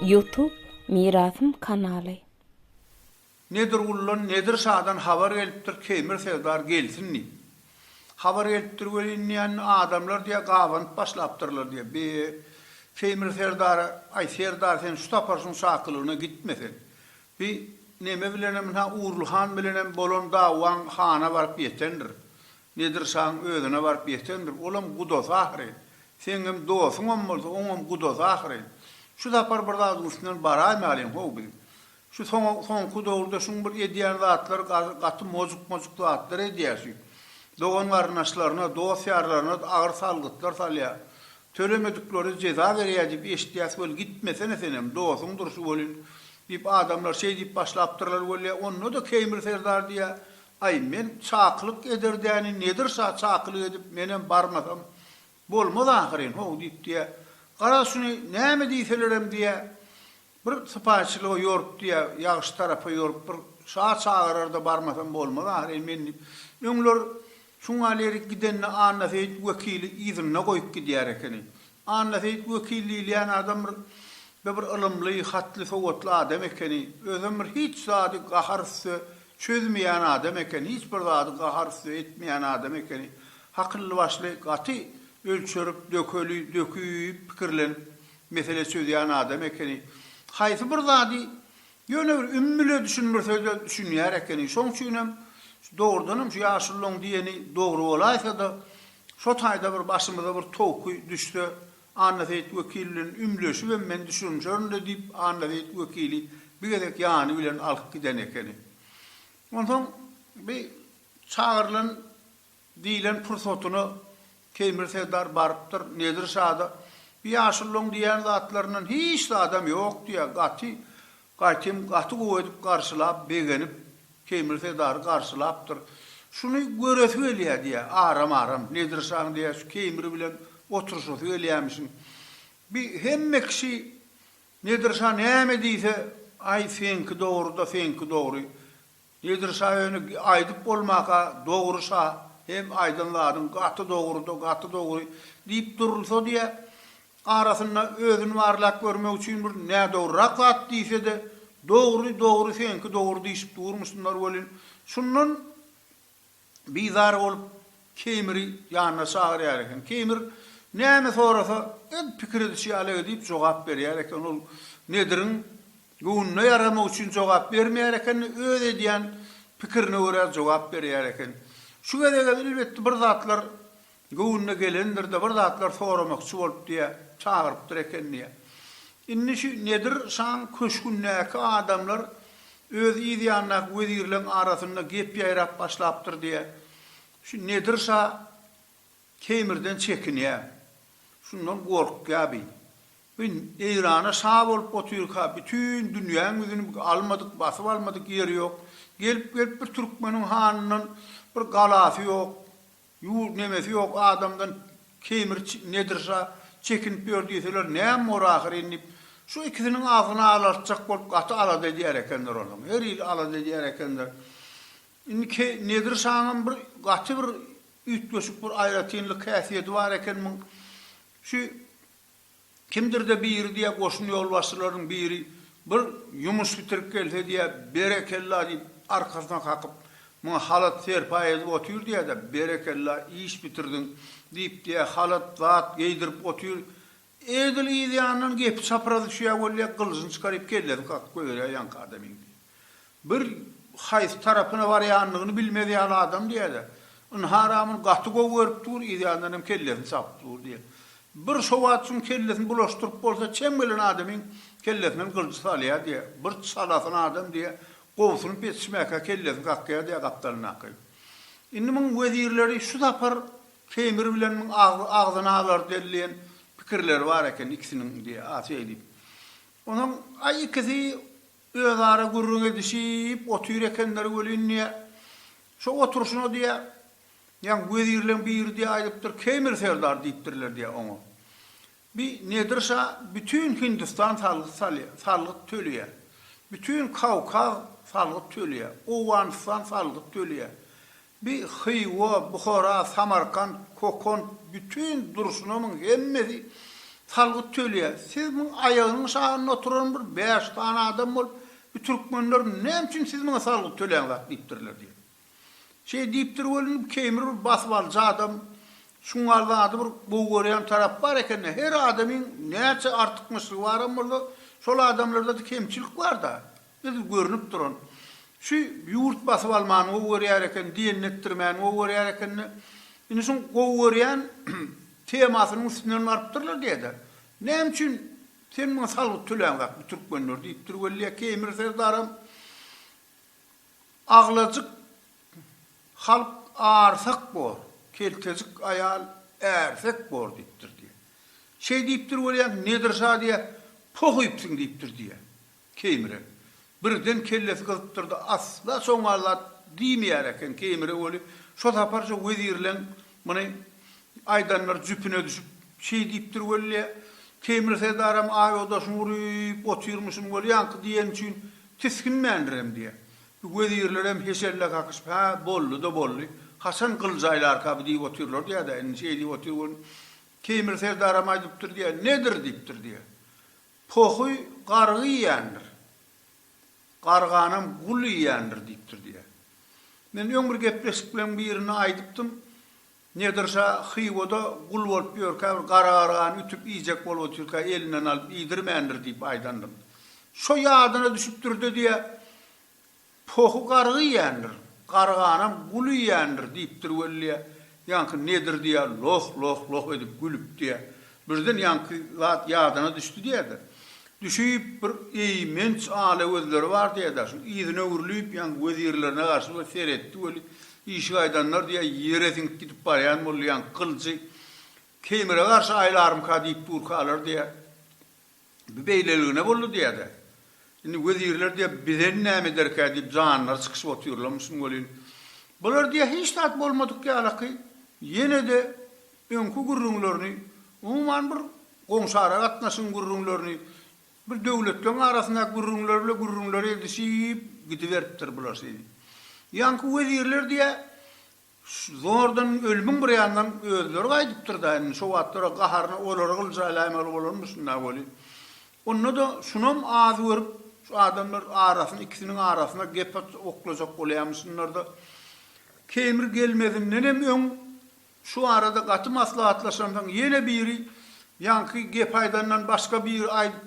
Youtube Mirasym kanaly. Nedirguldan Nedir şadan habar gelipdir Keýmir serdar gelsin diýip. Habar gelipdir welin diýen adamlar diýýär gabanyp başlapdyrlar diýýär. Bi Keýmir serdara aý serdar sen şu sapar şuň şakylygyna gitme sen. Bi neme bilenem ynha Urly han bilenem bolan dawaň hana baryp ýetendir. Nedir şaň özüne baryp ýetendir. Olam gudasy ahyryn. Seňňem dosuňam bolsa oňam gudasy ahyryn. Şu sapar bir zadyň üstünden baraýmalyň how biz. Şu soň soňky dowurda şuň bir edýän zatlary gaty mojuk mojuk zatlar edýär şu. Dogan garyndaşlaryna dos ýarlaryna agyr salgytlar salýar. Tölemedikleri jeza berýär diýip eşitýäs weli gitmesene senem dosuň durşy welin diýip adamlar şeý diýip başlapdyrlar weli onda da Keýmir serdar diýä aý men çakylyk eder däni Nedir şa çakylyk edip menem barmasam bolmaz ahyryn how diýip diýä garaz şuny näme diýselerem diýä Bir sypaýyçylyga ýorupdy ýa ýagşy tarapa ýorupdyr. Şa çagyrar-da barmasam bolmaz ahyry men diýip. Öňler Çungalyýerik gidende Annaseýit wekili yzynda goýup gidýär ekeni. Annaseýit wekil diýilýän adam bir da bir ylymly, hatly, sowatly adam ekeni. Özem bir hiç zady gahar üste çözmeýän adam eken, hiç bir zady gahar üste etmeýän adam ekeni. Hakylly-başly, gaty ölçerip, dökeli, döküp, pikirlenip Mesele çözýän adam ekeni. Haýsy bir zady ýöne bir ümmüle düşündirse-de düşünýär ekeni. Şoň üçinem dogrudanam şu ýaşulylaň diýeni dogry bolaýsa-da, şo taýda bir başymyza bir towky düşse, Annaseýit wekil bilen ümleşibem men düşünişerin-le diýip, Annaseýit wekili bir gezek ýany bilen alyp giden ekeni. Onsoň bi çagyrylan. Diýlen pursatyna Teýmir serdar barypdyr Nedir şada, Bu ýaşullaň diýýän zatlaryndan hiç zadam ýok diýýär. Gaty, gaýtem, gaty gowy edip garşylap, begenip, Teýmir serdary garşylapdyr. Şuny göresi gelýär diýýär, aram-aram, Nedir şaň diýýär, şu Teýmir bilen oturyşasy gelýämişin. Bi hemme kişi Nedir şa näme diýse, Aý, seňki dogry-da, seňki dogry. Nedir şa öni aýdyp bolmaka dogry şa hem aýdan zadyň gaty dogryda gaty dogry diýip durulsa diýä arasynda özüni barlap görmek üçin bir nädogryrak zat diýsede dogry dogry seňki dogry diýşip durmuşynlar welin şundan Bizar bolup, Keýmiri ýanyna çagyrýar eken. Keýmir näme sorasa, ed pikir edişi ýaly edip jogap berýär eken. Ol Nediriň göwnüne ýaramagy üçin jogap bermeýär eken-de, öz edýän pikirine görä jogap berýär eken. Şu gezegem, elbetde, bir zatlar Göwnüne gelendir-de, bir zatlar soramakçy bolup diýe, çagyrypdyr eken diýe. Indi şu Nedir şaň köşgündäki adamlar öz yz ýanyndaky wezirleň arasynda gep ýaýrap başlapdyr diýe, şu Nedir şa Teýmirden çekinýä. Şundan gorkýa bi. Bi Eýrana şa bolup otyrka, bütin dünýäň ýüzüni bi almadyk, basyp almadyk ýeri ýok. Gelip-gelip bir türkmeniň hanyndan bir galasy ýok. Ýurt nemesi ýok adamdan kemir nedir şa çekinip ýör diýseler näm bor ahyr indi şu ikisiniň agzyny alartjak bolup gaty alada edýär ekenler olam her il alada edýär ekenler indi ke nedir şanyň bir gaty bir üýtgeşik bir aýratynlyk häsiýeti bar eken muň şu Kimdir-de biri diýýär, goşun ýolbaşçylarynyň biri bir ýumuş bitirip gelse diýýär, Berekella diýip, arkasyna kakyp, muňa halat serpaý edip otyr diýýär-de, Berekella, iş bitirdiň diýip diýýär, halat, zat geýdirip otyr. Edil yz ýandan gepi çapyrasy düşýär weli diýýär, gylyjyny çykaryp, kellesini kakyp goýberýär ýaňky adamyň diýýär. Bir haýsy tarapyna barýanyny bilmez ýaly adam diýýärler. Ynha Ramin gaty gowy görüp dur, yzýandan hem kellesini çapyp dur diýýär. Bir şo wagt şuň kellesini bulaşdyryp bolsa çem gelen adamyň kellesinden gylyjy salýar diýýär. Bir çalasyn adam diýýär, gowusynyp ýetişmäkä kellesini kakýar diýýär gapdalyndaky. Indi muň wezirleri şu sapar Teýmir bilen muň agzyny alar delleýän pikirleri bar eken ikisiniň diýýär, a şeýdip. Onsoň a ikisi Özara gürrüň edişip otyr ekenler welin, diýýä, şo oturyşyna, diýýä, ýaňy wezirleň biri, diýýä, aýdypdyr, Keýmir serdar diýipdirler, diýýä, oňa. Bi Nedir şa bütin Hindistan salgyt salýar, salgyt töleýär. Bütin Kawkaz salgyt töleýär. Owganystan salgyt töleýär. Bi Hywa, Buhara, Samarkant, Kokon, bütin durşunamyň hemmesi salgyt tölýär. Siz muň aýagynyň şagynda oturan bir bäş sany adam bolup, bi türkmenler näme üçin siz muňa salgyt töläňzak diýipdirler diýip. Şeý diýipdir welin, bi keýmir bir basyp alyjy adam, şuňňal zady bir gowy görýän tarap bar eken-dä. Her adamyň näçe artykmaçlygy baram bolsa, şol adamlarda-da kemçilik bar-da. Biz görnüp duran, şu ýurt basyp almany gowy görýär eken, diýenini etdirmäni gowy görýär eken-de, indi şuň gowy görýän temasynyň üstünden barypdyrlar diýe-de, Näme üçin sen muňa salgyt töläňok, bu türkmenler? diýipdir weli, Keýmir serdaram aglajyk halk arsak bor, keltejik aýal ärsek bor diýipdir diýe. Şeý diýipdir weli, Nedir şa diýe, Poh öýüpsiň diýipdir diýe. Keýmire. Birden kellesi gyzypdyrdy, asla soňňa zat diýmeýär eken, Keýmire weli şo saparja wezirleň muny aýdanlary jüpüne düşüp, şeý diýipdir weli, Keýmir serdaram aýodaşyny urup otyrmyşyn weli ýaňky diýeni üçin tisginmändirem diýýär. Bu wezirlerem heşelle kakyşyp, hä, boldy-da boldy, haçan gylyj aýlarka bu diýip otyrlar diýýär-dä, indi şeý diýip otyr weli, Keýmir serdaram aýdypdyr diýýär, nedir diýipdir diýýär. Pohuý gargy iýýändir. Garganam gul iýýändir diýipdir diýýär. Men öň bir gepleşikleň birinde aýdypdym, Nedir şa Hywada gul bolup ýörkä bir gara gargany ütüp iýjek bolup otyrka elinden alyp iýdirmändir diýip aýdandym. Şo ýadyna düşüpdir-de diýýär, Pohy gargy iýendir, garganam gul iýendir diýipdir weli. Ýaňky nedir diýä, loh, loh, loh edip gülüp diýä. Birden ýaňky zat ýadyna düşdi diýä-de. Düşüp, bir eýmenç ala gözleri bar diýä-de, şu yzyna öwrülip, ýaňky wezirlerine garşy bir seretdi weli, işik aýdanlar diýä ýere siňip gidip barýan boldy, ýaňky gylyjy Keýmire garşy aýlarmyka diýip durkalar diýä. Bu beýleligine boldy diýýä-de. Indi wezirler diýýä, Bizem näme ederkä diýip janlary çykyşyp otyrlarmyşyn welin, bular diýýä hiç zat bolmadyk ýalaky ýene-de öňki gürrüňlerini, umuman bir goňşy-ara gatnaşygyň gürrüňlerini, bir döwletleriň arasyndaky gürrüňleri bile gürrüňleri edişip gidiberipdir bular şeýdip. Ýaňky wezirler diýýä, Zordan ölümiň bir ýanyndan özleri gaýdypdyr-da indi, şo wagtlar-a gaharyna olary gylyja alaýmaly bolanmyşyn-da welin, onda-da şunam az görüp, şu adamlar arasyny, ikisiniň arasyna gep atyp oklajak bolýamyşynlar-da, Keýmir gelmezindenem öň şu barada gaty maslahatlaşansoň, ýene biri ýaňky gepi aýdandan başga biri aýdyp,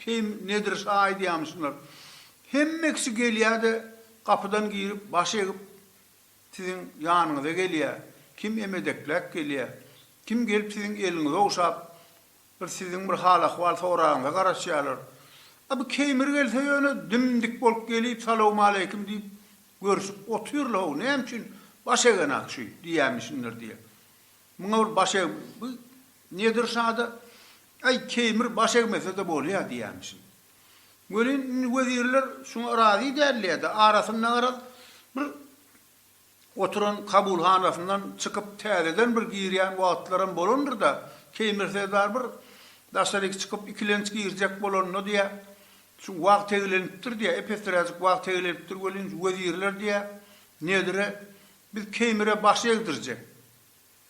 Keým Nedir şa aýdýamyşynlar. Hemme kişi gelýä-de, gapydan girip, baş egip, Siziň ýanyňyza gelýär, kim emedekläp gelýär, kim gelip siziň eliňizi ogşap, bir siziň bir hal-ahwal soragyňyza garaşýarlar. A bu Keýmir gelse ýöne dim-dik bolup gelip, salawmaleýkim diýip, görşüp otyrly-how, näme üçin baş egen-a şu diýýämişindir diýýär. Muňa bir baş eg, bu Nedir şa-da, Äý, Keýmir baş egmese-de bolýa diýýämişin. Welin, indi wezirler şuňa razy däldi-de, arasynda garaz, bir oturan kabulhanasyndan çykyp täzeden bir girýän wagtlaram bolandyr-da, Keýmir serdar bir daşaryk çykyp, ikilenç girjek bolanda diýä, şu wagt teglenipdir diýä, ep-esräjik wagt teglenipdir welin, şu wezirler diýä, nedire, biz Keýmire baş egdirjek.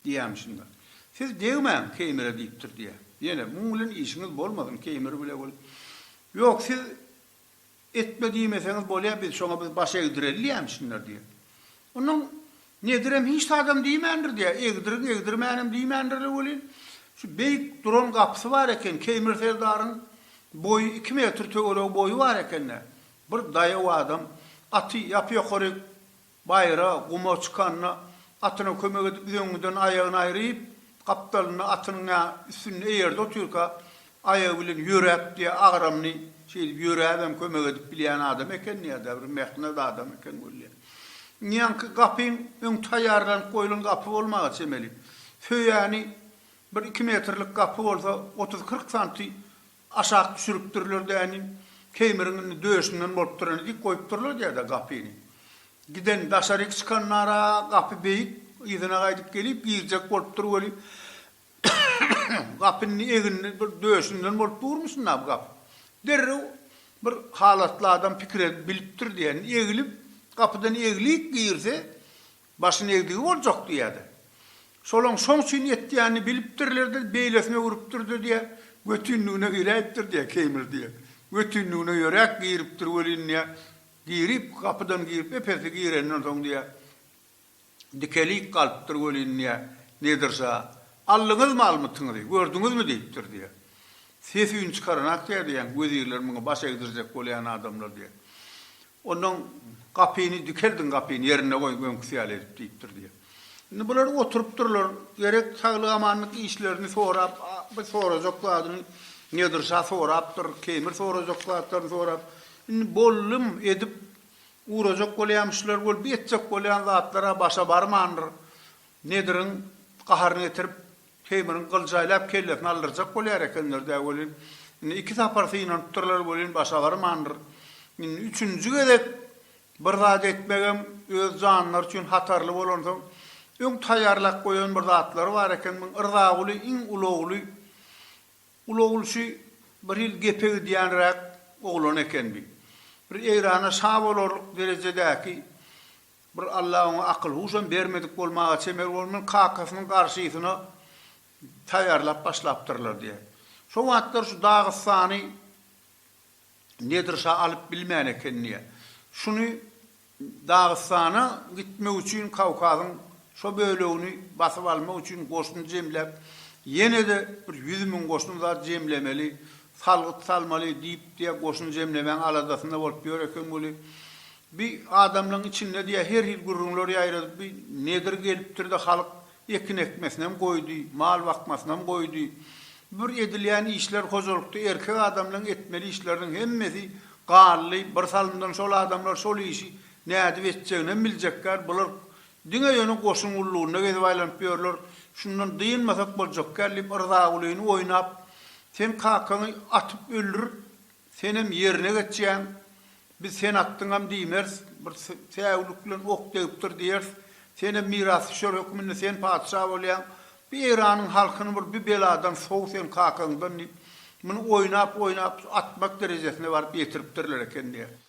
Diýýämi şunda? Siz degmäň Keýmire diýipdir diýýä. Ýene, muň bilen işiňiz bolmasyn, Keýmir bile bol. Ýok, siz etme diýmeseňiz bolýa, biz şoňa biz baş egdireli diýýämi şunda diýýä. Onnoň Nedirem hiç zadam diýmändir diýýä, egdirin, egdirmänem diýmändirler welin, şu beýik duran gapysy bar eken, Keýmir serdaryň boýy iki metr töweregi boýy bar eken-dä. Bir daýaw adam aty ýapy-ýokaryk Baýra, guma çykanda atyna kömek edip üzüňňiden aýagyny aýryp, gapdalynda atynyň ýa üstünde eýerde otyrka aýagy bilen ýöräp diýýär, agramly şeýdip ýöräbem kömek edip bilýän adam eken diýýär-de, bir mähnet adam eken bolýar. Ňýanky gapyň öň taýýarlanyp goýlan gapy bolmaga çemeli. Söýäni bir iki metrlik gapy bolsa otuz-kyrk santy Aşak düşüripdirler däni. Keýmiriň indi döşünden bolup durany dik goýupdyrlar diýäda gapyny. Giden daşaryk çykanlara gapy beýik, yzyna gaýdyp gelip girjek bolupdyr weli, gapy indi eginli bir döşünden bolup durmuşyn-da bu gapy. Derrew bir halatly adam pikir edip bilipdir diýen egilip, gapydan eglik girse, Başyny egdigi boljak diýýärdi. Şolaň şoň üçin etýänini bilipdirler-de, beýlesine urupdyr-da diýýä, götinligine iräýipdir diýýä, Keýmir diýýä. Götinligine ýöräp giripdir welin diýýä, girip, gapydan girip, ep-esli gireninden soň diýýä, dikelik galypdyr welin diýýä, Nedir şa, aldyňyzmy almytyňyzy, gördüňizmi diýipdir diýýä. Ses-üýn çykaranak diýýä diýýäň, wezirler muňa baş egdirjek bolýan adamlar diýýä. Ondan gapyny dikeldiň, gapyny ýerinde goýuň, öňküsi ýaly edip diýipdir diýýär. Indi bular oturypdyrlar, gerek saglyk-amanlyk işlerini sorap, bir sorajak zadyny Nedir şa sorapdyr, Keýmir sorajak zatlaryny sorap, indi bollum edip ugrajak bolýamyşlar, bolup ýetjek bolýan zatlar-a başa barmandyr. Nediriň gaharyny getirip, Teýmirin gylyj aýlap kellesini aldyrjak bolýar ekenler-dä welin, indi iki sapar synanypdyrlar welin başa barmandyr. Indi üçünji gezek bir zat etmegem öz janlary üçin hatarly bolansoň, öň taýýarlap goýan bir zatlary bar eken, muň Yrzaguly iň ulagly, ulaglyşy bir hili gepe gidýänräk oglan ekendi. Bir Eýrana şa bolarlyk derejedäki Bir Alla oňa akyl-huşam bermedik bolmaga çemel bolman, kakasynyň garşysyna taýýarlap başlapdyrlar diýýär. Şo wagtlar şu Dagystany Nedir şa alyp bilmän eken diýýär. Şuny Dagystana gitmek üçin Kawkazyň şo bölegini basyp almak üçin goşun jemläp, ýene-de bir ýüz müň goşun zat jemlemeli, salgyt salmaly diýip diýýär, goşun jemlemäň aladasynda bolup ýör eken weli, Bi adamlaň içinde diýä her hil gürrüňler ýaýradyp bi nedir gelipdirde halyk ekin ekmesinem goýdy mal bakmasynam goýdy bir edilýän işler hojalykda erkek adamlaň etmeli işleriniň hemmesi galdy bir salymdan şol adamlar şol işi nädip etjeginem biljekgär bular diňe ýöne goşun gullugynda gezip aýlanyp ýörler şundan dynmasak boljakgär diýip yrzagulyny oýnap sen kakaňy atyp öldürip Senem ýerine geçýäň. Biz sen atdyňam diýmeris. Bir säwlik bilen ok degipdir diýeris. Senem mirasdüşer hökmünde sen patyşa bolýaň. Bu Eýranyň halkyny bir bu beladan sow sen kakaňdan diýip, muny oýnap-oýnap atmak derejesine baryp ýetiripdirler eken diýýär.